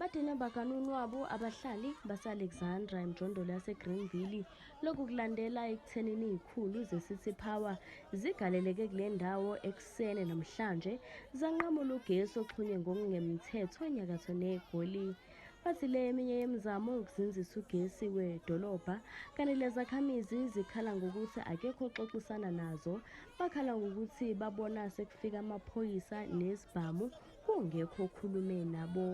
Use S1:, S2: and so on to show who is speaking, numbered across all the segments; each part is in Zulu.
S1: Badine bakanunwabu abahlali base-Alexandra emjondolo yaseGreenville. Lokhu kulandela ekuthenini izikhulu ze-City Power zigaleleke kule ndawo ekuseni namhlanje zanqamula ugesi oxhunywe ngokungemthetho enyakatho neGoli. Bathi le eminye yemizamo yokuzinzisa ugesi wedolobha kanti lezakhamizi zikhala ngokuthi akekho oxoxisana nazo. Bakhala ngokuthi babona sekufika amaphoyisa nezibhamu kungekho okhulume nabo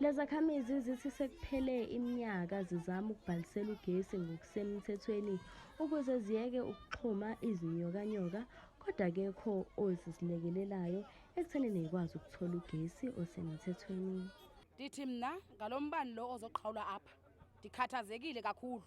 S1: Lezakhamizi zithi sekuphele iminyaka zizama ukubhalisela ugesi ngokusemthethweni ukuze ziyeke ukuxhuma izinyokanyoka kodwa akekho ozisilekelelayo ekutheni neyikwazi ukuthola ugesi osemthethweni. Ndithi mna
S2: ngalo mbani lo ozoqhawula apha ndikhathazekile kakhulu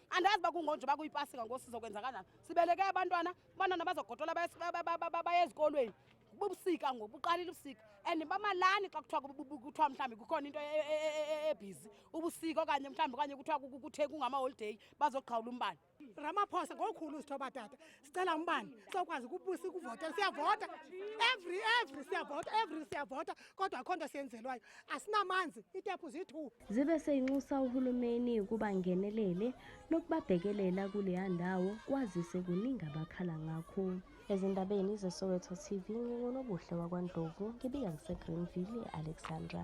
S2: andazi bakungonje bakuyipasika ngosizo kwenzakalani sibeleke abantwana abantwana bazogodola baye ezikolweni bubusika ngoku buqalile ubusika and bamalani xa kuthiwa kuthiwa mhlawumbi kukhona into ebhizi e, e, e, ubusika okanye mhlawumbi okanye kuthiwa kuthe kungamaholideyi bazogqawula umbane ramaphosa ngokhulu
S3: uzithoba tata sicela umbani sokwazi ukubusa ukuvota siyavota every every siyavota every siyavota kodwa akho nto siyenzelwayo asinamanzi itephu ziyi-two zibe seyinxusa
S1: uhulumeni ukuba ngenelele nokubabhekelela kuleya ndawo kwazise kuningi abakhala ngakho ezindabeni zesoweto tv ngingunobuhle wakwandlovu ngibika ngisegreenville e-alexandra